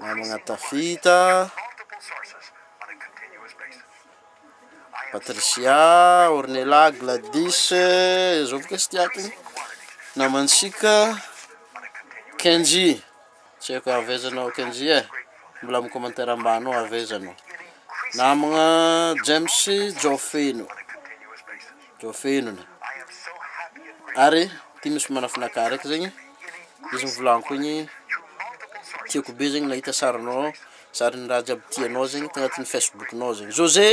Namagna Tafita, Patricia, Ornella, Gladys, zao boka tsy tiako iny. Namantsika Kenji, tsy haiko avy aiza anao Kenji e, mbola amin'ny commentaire ambany ao avy aiza anao. Namagna James Jofeno. Voafenina. Ary ty misy manafinaka araiky zegny izy mivolagno igny tiako be zegny nahita sarinao sarin'ny raha jiaby tianao zegny tagnatiny facebook nao zegny jose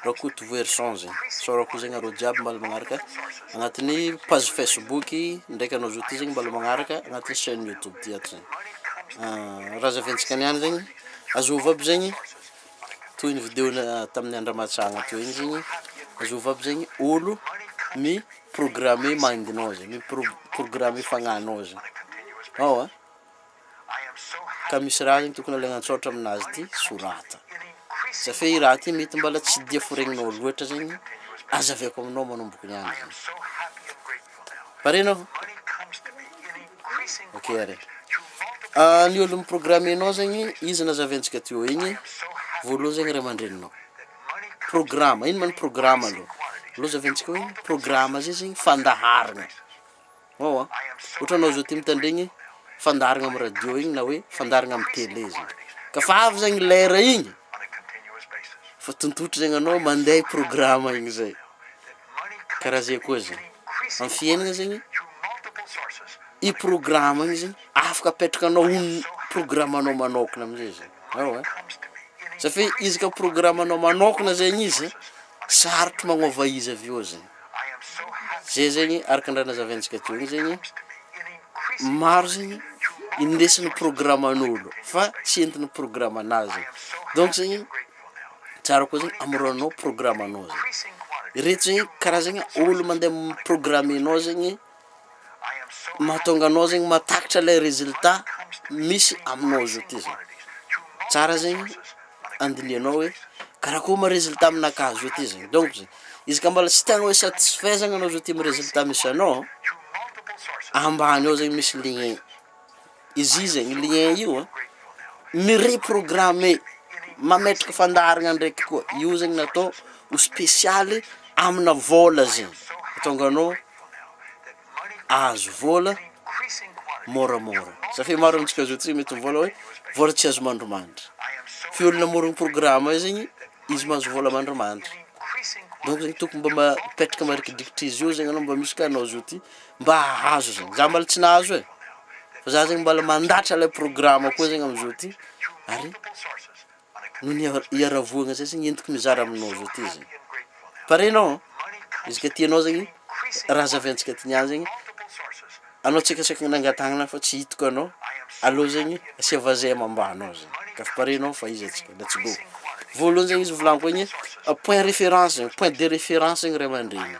rakotovoherison zegny isaorako ko zegny nareo jiaby mbala magnaraka agnatiny page facebook ndraiky anao zao ty zegny mbala magnaraka agnatiny chaine youtube ty ato zegny raha zahaventsika niany zegny azôvo aby zegny toy ny video na tamin'ny andra matsagna teo igny zegny azovy aby zegny olo mi programme mindinao zay mi pro- programme fagnanao zay ao a ka misy raha zegny tokony alaigna an-tsaotra aminazy ty sorata za fe i raha ty mety mbala tsy dia foregninao loatra zegny aza avy ako aminao manomboka niany zany. Pare anao? Ok ary. Ah, ny olo mi-programme anao zegny, izy nazaventsika teo igny, voalohany zegny ray aman-dreninao. Programa, ino ma ny programa aloha? Aloha zahaventsika hoe programa zay zegny fandaharagna. Eoa, ohatra anao zao ty mitandregny fandaharagna amy radio igny na hoe fandaharagna amy tele zany. Ka fa avy zany lera igny, fa tontotra zegny anao mandeha i programa igny zay. karaha zay koa zany amin'ny fiainana zegny i programa igny zegny afaka apetrakanao ho ny programanao manokana amizay zany eoa e za fe izy ka programanao manokana zegny izy sarotro magnova izy avy eo zegny zay zegny araka ny raha nazavaintsika teo igny zegny maro zegny indesin'ny programan'olo fa tsy entin'ny programanao zegny donc zegny tsara koa zany amoronanao programme anao zany ireto zegny karazagna olo mande programme enao zegny mahatonga anao zegny mahatakatra le resultat misy aminao zao ty zany tsara zegny andinihanao hoe karakôry ma resultat aminaka zao ty zany donc zany izy ka mbola tsy tegna hoe satisfaisant anao zao ty amy resultat misy anao ambany ao zany misy lien. izy io zegny lien io a, mi-reprogrammer, mametraka fandaharagna ndraiky koa, io zegny natao ho spesialy amina vôla zegny, ahatonga anao ahazo vôla môramôra, za fe maro amintsika zao tsy mety mivôla hoe vôla tsy azo mandrimandry, fe olo namorogny programa io zegny izy mahazo vôla mandrimandry, donc zegny tokony mba ma- mipetraka marikidrikitry izy io zegny anao mba misy ka anao zao ty. mba hahazo zany, za mbala tsy nahazo e, fa za zegny mbala mandatra lay programa koa zegny amzao ty, ary noho ny hiaravoagna zay zegny entiko mizara aminao zao ty zany, pare anao an, izy ka tianao zegny raha zahaviantsika ty niany zegny, anao tsika saika nangatahanana fa tsy hitako anao, aleo zegny asia vazay amambanao zany, ka fa pare anao fa iza tsika, let's go, voalohany zegny izy novolaniko igny, point référence zegny, point de référence zegny ray aman-dreny.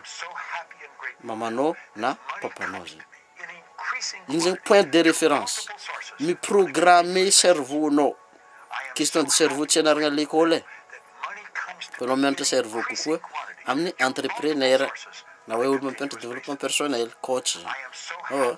mamanao na papanao zay. Iny zany point de référence. Mi-programme cerveau nao. Question de cerveau tsy anaragna à l'école e. Fa anao mianatra cerveau kokoa amin'ny entrepreneur na hoe olo mampianatra développement personnel, coach zany. Ewa.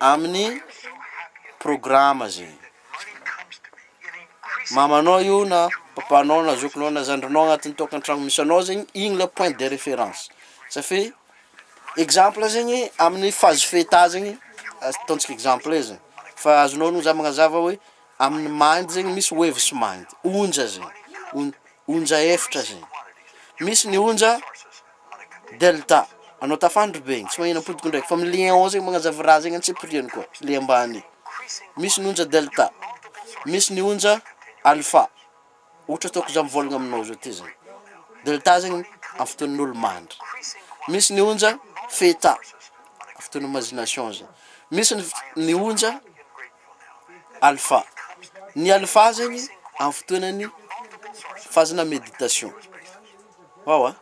Amin'ny programa ze mamanao io na papanao na zokinao na zandrinao agnatin'ny tokantragno misy anao zegny igny le point de reference safi exemple zegny amin'ny phase feta zegny ataontsika exemple ze fa azonao ognony za magnazava hoe amin'ny mind zegny misy waves mind onja ze on- onja efatra ze misy ny onja Delta, anao tafandry be igny, tsy magnino ampodiko ndraiky, fa milé en haut zegny magnazava raha zegny antsipiriany koa, le ambany, misy ny onja delta, misy ny onja alpha, ohatra ataoko za mivôlagna aminao zao ty zany, delta zegny amy fotoan'olo mandry, misy ny onja theta, amy fotoana imagination zany, misy ny f- ny onja alpha, ny alpha zegny amy fotoanan'ny fazana meditation. Waw a!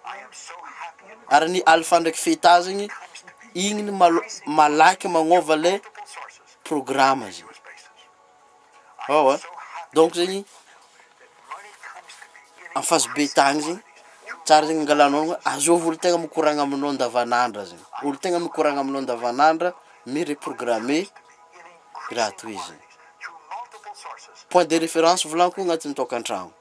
Ary ny alpha ndraiky feta zegny igny ny malo malaky magnova le programa zegny. Waw a! Donc zegny en phase beta agny zegny tsara zegny angalanao aloha azôvy olo tegna mikoragna aminao andavanandra zegny, olo tegna mikoragna aminao andavanandra mi-reprogrammer raha tohizo zegny. Point de référence volanko agnatin'ny taokan-tragno.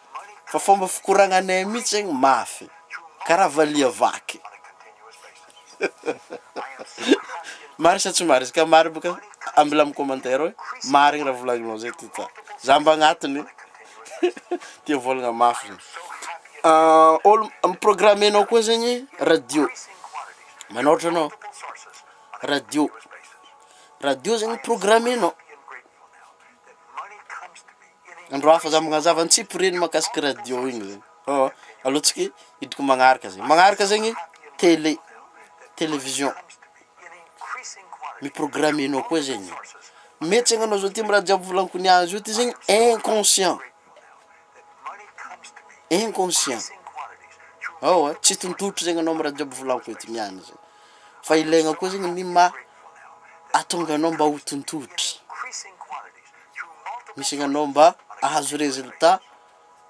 Fa fomba fikoragnanay mihitsy zegny mafy karaha valiha vaky. Marigny sa tsy marigny? Ka marigny boka ambila amin'ny commentaire hoe marigny raha volagninao zay ty ta. Za mba agnatiny tia volagna mafy zany. Olo mi-programme-nao koa zegny radio, manôratra anao radio, radio zegny mi-programme-nao Andro hafa za magnazava ny tsipy reny makasika radio igny zany oh alou tsika hidiko magnaraka zegny magnaraka zegny tele television mi programme nao koa zegny mety zegny anao zao ty am raha jiaby volaniko niazy io ty zegny inconscient. inconscient ao a, tsy tontotro zegny anao am raha jiaby volako eto niany zay, fa ilaigna koa zegny ny maha atonga anao mba ho tontotry, misy ny anao mba ahazo résultat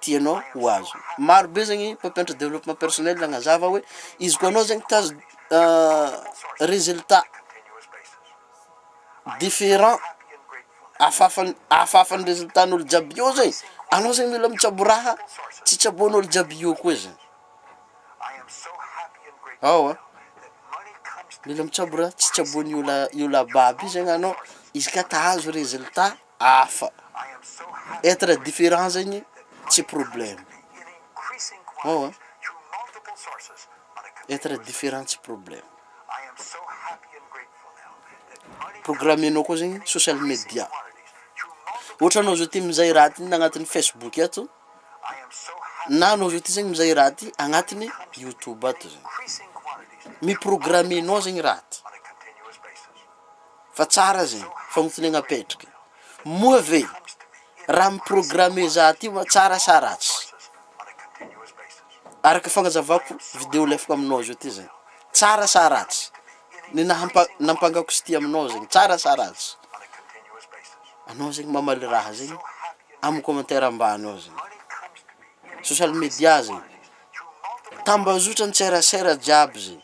tianao ho azo, maro be zegny mpampianatra développement personnel nagnazava hoe izy koa anao zegny te ahazo résultat différent. Afafan afafan resultat ny olo jiaby eo zay anao zay mila mitsabo raha tsy tsaboan olo jiaby eo koa zay ao a mila mitsabo raha tsy tsaboan i ola i ola baby io zay anao izy ka ta ahazo resultat afa etre different zegny tsy probleme ao a etre different tsy probleme. Programmenao koa zegny social media. Ohatra anao zao ty mizay raha ty agnatiny Facebook ato, na anao zao ty zegny mizay raha ty agnatiny YouTube ato zegny. Mi-programmenao zegny raha ty. Fa tsara aza e! Famontoniagna apetraka. Moa ve raha mi-programmer za ty oa tsara sa ratsy? Araka fagnazavako video lefako aminao zao ty zay. Tsara sa ratsy? Ny nahampa- nampangako sty aminao zegny tsara sa ratsy? Anao zegny mamaly raha zegny am commentaire ambany ao zegny. Social media zegny, tambazotra an-tserasera jiaby zegny.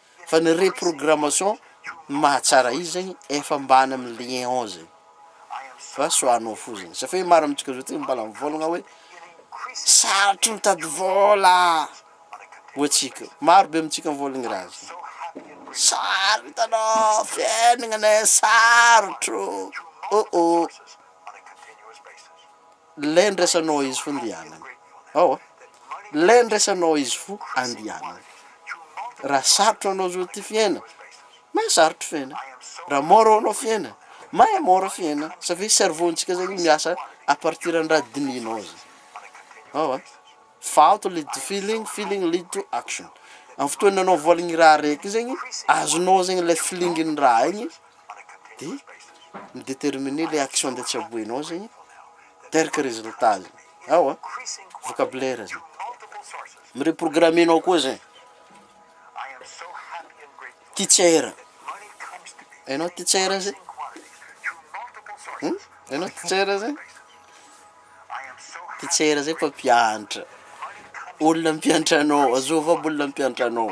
Fa ny reprogrammation no mahatsara izy zegny efa ambany amin'ny lien ao zegny fa soanao fo zegny satria maro amintsika zao tonga mbala mivôlagna hoe sarotro mitady vôla ho antsika io, maro be amintsika mivôlagna ny raha zay, sarotro hitanao fiainagnanay sarotro oh oh. Lé ndraisanao izy fo ndianany ao a! Lé ndraisanao izy fo andianany Raha sarotra anao zao ty fiaina Mahay sarotra fiaina Raha mora ho anao fiaina Mahay mora fiaina Satria cerveau ntsika zegny miasa à partir ny raha dinihinao zay ao a! Thought lead to feeling, feeling lead to action Amin'ny fotoana anao voaligny raha araiky zegny azonao zegny lé feeling ny raha igny, de mi-determiner le action ndeha tsaboinao zegny teraka résultat zany, ewa vocabulaire zany, mi-reprogrammer nao koa zay, teacher, hainao teacher zay? Hainao teacher zay? Teacher zay mpampianatra, olona mpianatra anao, azovy aby olona mpianatra anao.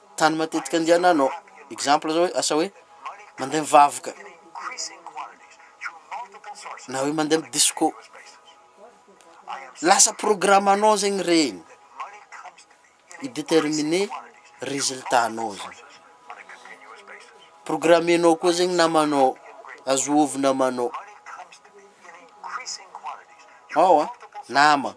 Tany matetika andiananao. Exemple zao hoe asa hoe mandeha mivavaka na hoe mandeha am disco. Lasa programanao zegny regny, i determiner resultat anao zany. Programenao koa zegny namanao, azovo namanao. Ao an, nama.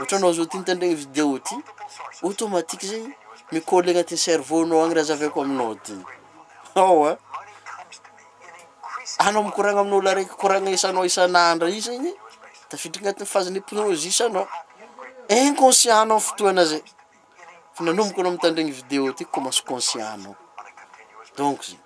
Otranao zao ty nitandregny video ty automatique zegny mi coller agnatin'ny cerveau nao agny raha zahaviko aminao ty hao a! Anao mikoragna amin'olo araiky koragna isanao isan'andra io zegny tafiditra agnatin'ny phase n'hypnose anao, inconscient nao fotoagna zay fa nanomboka anao mitandregny video ty commence conscient nao donc zay.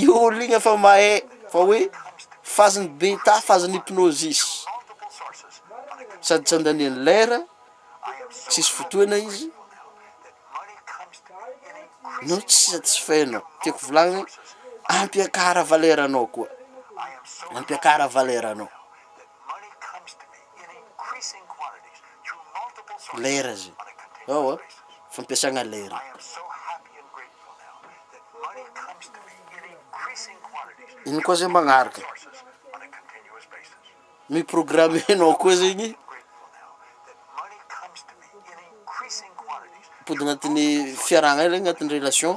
Io olo igny efa mahay fa hoe phase ny beta, phase ny hypnosis sady tsy andaniany lera, tsisy fotoana izy no tsy satisfait-nao, tiako volagniny ampiakara valeur-nao koa, ampiakara valeur-nao. Lera zay. Ao a, fampiasagna lera. Ino koa zay magnaraka? Mi-programmer nao koa zegny mpody agnatin'ny fiarahagna regny agnatin'ny relation.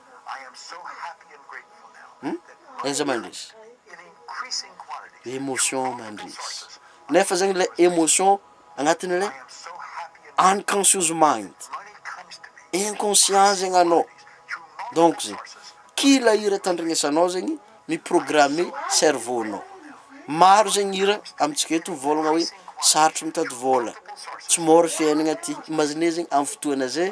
Aiza mandresy? Emotion mandresy. Nefa zegny le emotion agnatin'le unconscious mind, inconscient zegny anao, donc zegny kila hira tandregnesanao zegny mi-programme cerveau-nao. Maro zegny hira amintsika eto mivôlagna hoe sarotro mitady vôla, tsy môra fiaignana ty, imaginez zegny am'fotoana zay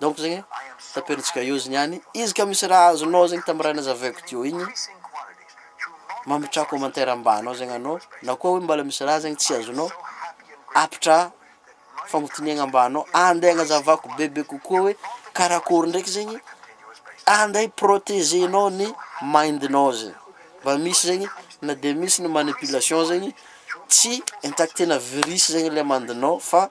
donc zegny tapentsika eo zegny any izy ka misy raha azonao zegny tam raha nazavaiko teo igny mametraha commentaire ambany ao zegny anao na koa hoe mbala misy raha zegny tsy azonao apitra fagnotiniagna ambany ao ande agnazavako bebe kokoa hoe karakôry ndraiky zegny ande hi-protegenao ny mind-nao zegny mba misy zegny na de misy ny manipulation zegny tsy intact-na virus zegny le mind-nao fa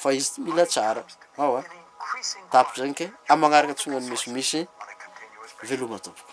fa izy ty mila tsara ao a tapitra zany kay am magnaraka tsy ho an'ny misimisy veloma tompoko.